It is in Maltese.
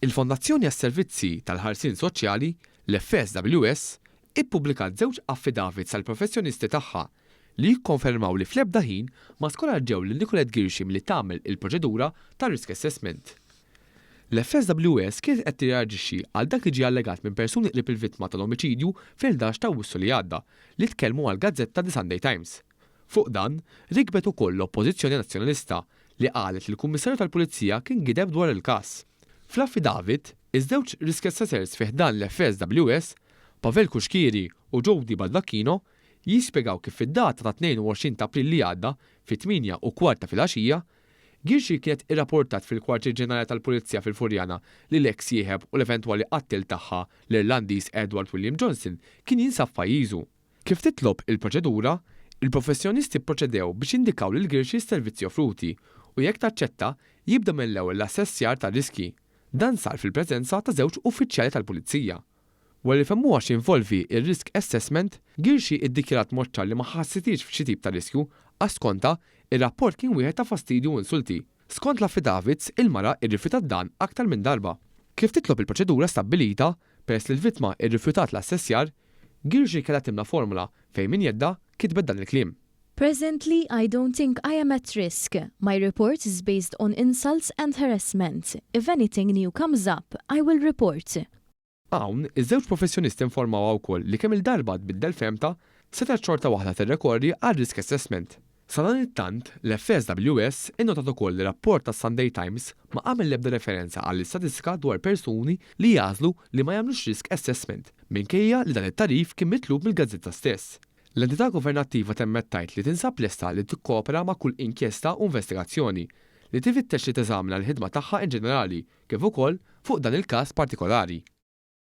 Il-Fondazzjoni għas-Servizzi tal-Ħarsien Soċjali, l-FSWS, ippubblikat żewġ affidavits tal-professjonisti tagħha li jikkonfermaw li fl-ebda ħin ma skoraġġew lil Nicolette Ghirxi milli tagħmel il-proċedura ta' risk assessment. L-FSWS kienet qed tirreaġixxi għal dak li ġie allegat minn persuni qrib il-vittma tal-omiċidju fl-11 t'Awwissu li għadda, li tkellmu għall-gazzetta The Sunday Times. Fuq dan, rikbet ukoll l-Oppożizzjoni Nazzjonalista li qalet li l-Kummissarju tal-Pulizija kien gideb dwar il-każ. Fl-affidavit, iż-żewġ riskessaters fi ħdan l-FSWS, Pavel Cuschieri u Jody Baldacchino, jispjegaw kif fid-data tat-22 ta' April li għadda, fit-tmienja u kwart ta' filgħaxija, Ghirxi kienet irraportat fil-Kwartier Ġenerali tal-Pulizija fil-Furjana li l-eks sieħeb u l-eventwali qattiel tagħha, l-Irlandiż Edward William Johnson, kien jinsab f'pajjiżu. Kif titlob il-proċedura, il-professjonisti pproċedew biex jindikaw lil Ghirxi s-servizzi offruti u jekk taċċetta, jibda mill-ewwel l-assessjar tar-riskji. Dan sar fil-preżenza ta' żewġ uffiċjali tal-pulizija. Wara li fehmuha x'jinvolvi r-risk assessment, Ghirxi iddikjarat b'mod ċar li ma ħassitiex f'xi tip ta' riskju għax skontha, ir-rapport kien wieħed ta' fastidju u insulti. Skont l-affidavits, il-mara rrifjutat dan aktar minn darba. Kif titlob il-proċedura stabbilita, Peress li l-vittma rrifjutat l-assessjar, Girgir kellha timla formola fejn minn jeddha kitbet dan il-kliem. Presently I don't think I am at risk, my report is based on insults and harassment, if anything new comes up I will report. Hawn, iż-żewġ professjonisti nformawha wkoll li kemm-il darba tbiddel fehmtha, setgħet xorta waħda tirrekorri għal risk assessment. Sadanittant, l-FSWS innotat ukoll li rapport tas-Sunday Times ma għamel l-ebda referenza għall-istatistika dwar persuni li jagħżlu li ma jagħmlux risk assessment, minkejja li dan it-tagħrif kien mitlub mill-gazzetta stess. L-entità governattiva temmet tgħid li tinsab lesta li tikkopera ma' kull inkjesta u investigazzjoni, li tifittex li teżamina l-ħidma tagħha inġenerali, kif ukoll fuq dan il-każ partikolari.